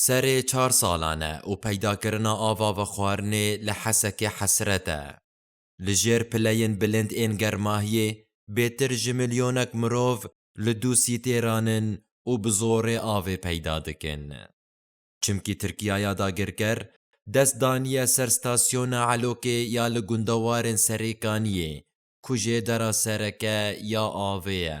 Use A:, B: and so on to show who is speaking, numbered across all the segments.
A: Serê çar salan e û peydakirina ava vexwarinê li Hesekê hesret e. Li jêr pileyên bilind ên germahiyê bêtir ji milyonek mirov li du sîtêran in û bi zorê avê peyda dikin. Çimkî Tirkiyaya dagirker dest daniye ser stasyona Elokê ya li gundewarên Serêkaniyê ku jê dera sereke ya avê ye.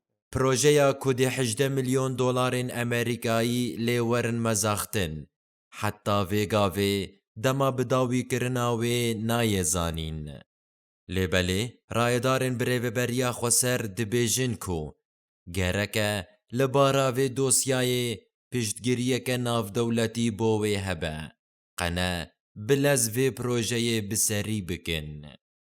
A: Projeya ku dê hejdeh milyon dolarên Amerîkayî lê werin mezaxtin, heta vê gavê dema bi dawî kirina wê nayê zanîn. Lê belê rayedarên bi rêveberiya Xweser dibêjin ku gereke li bara vê dosyayê piştgiriyeke navdewletî bo wê hebe, qe ne bi lez vê projeyê bi serî bikin.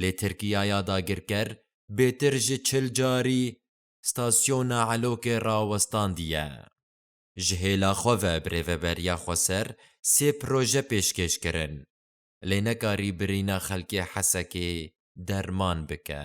A: lê Tirkiyaya dagirker bêtir ji çil carî stasyona Elokê rawestandiye. Ji hêla xwe ve bi Rêveberiya Xweser sê proje pêşkêş kirin, lê nekarî birîna xelkê Hesekê derman bike.